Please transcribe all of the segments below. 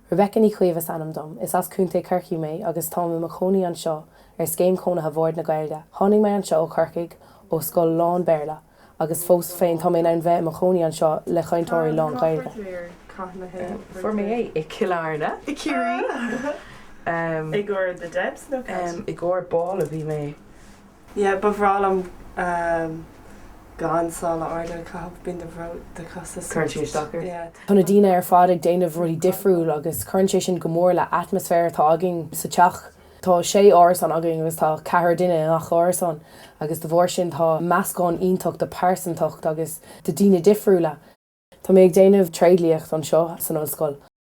Rebecca Ní Chaoimh is ainm dom. Is as Contae Chorcaí mé agus táim i mo chónaí anseo ar Scéim Chónaithe Bhord na Gaeilge. Tháinig mé anseo ó Chorcaigh, ó scoil lán-Béarla, agus fós féin tá mé in ann bheith i mo chónaí anseo le chainteoirí lán-Ghaeilge. Fuair mé é i Cill Airne, i gCiarraí, i gcomhair The Debs, no, i gcomhair Ball a bhí agam. yeah ba bhreá liom ehm gan sála arda a chaitheamh bíonn do chosa Cuireann sé isteach ort. yeah Tá na daoine ar fad ag déanamh rudaí difriúil agus cuireann sé sin go mór le atmaisféar atá againn sa teach. Tá sé árasán againn agus tá ceathrar daoine i ngach árasán agus de bharr sin tá meascán iontach de pearsantacht agus de daoine difriúla. Tá mé ag déanamh tréidliacht anseo san ollscoil.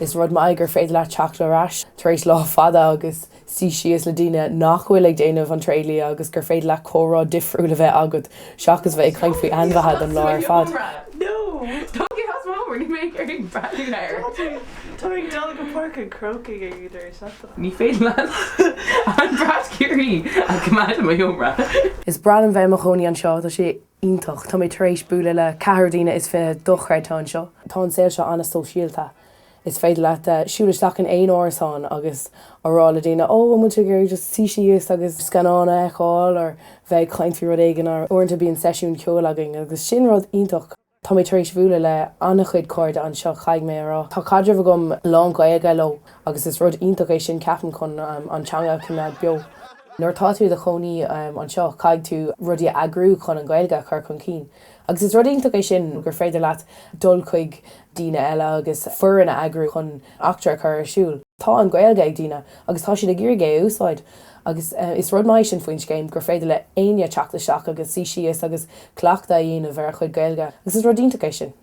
Is rud maith é gur féidir leat teacht ar ais tar éis lá fada agus suí síos le daoine nach bhfuil ag déanamh an tréidlia agus gur féidir leat comhrá difriúil a bheith agat seachas bheith ag caint faoi ainmhithe don lá ar fad. Is breá liom bheith i mo chónaí anseo, tá sé. iontach. Tá mé tar éis bualadh le ceathrar daoine is fiche dochreidte anseo. Tá an saol seo an-sóisialta. Is féidir leat siúl isteach in aon árasán agus a rá le daoine, 'Ó, an bhfuil sibh ag iarraidh just suí síos agus scannán a fheiceáil or bheith ag caint faoi rud éigin? Or uaireanta bíonn seisiún ceoil againn agus sin rud iontach. Tá mé tar éis bhualadh le an-chuid cairde anseo, caithfidh mé a rá. Tá caidreamh agam lán-Ghaeilge leo Agus is rud iontach é sin, ceapaim, chun an teanga a choimeád beo. Nuair atá tú i do chónaí anseo, caithfidh tú rudaí a eagrú chun an Ghaeilge a chur chun cinn. Agus is rud iontach é sin, gur féidir leat dul chuig daoine eile agus foireann a eagrú chun eachtra a chur ar siúl. Tá an Ghaeilge ag daoine agus tá siad ag iarraidh é a úsáid. Agus is rud maith é sin faoin scéim, gur féidir le héinne teacht isteach agus suí síos agus cleachtadh a dhéanamh ar a chuid Gaeilge. Agus is rud iontach é sin.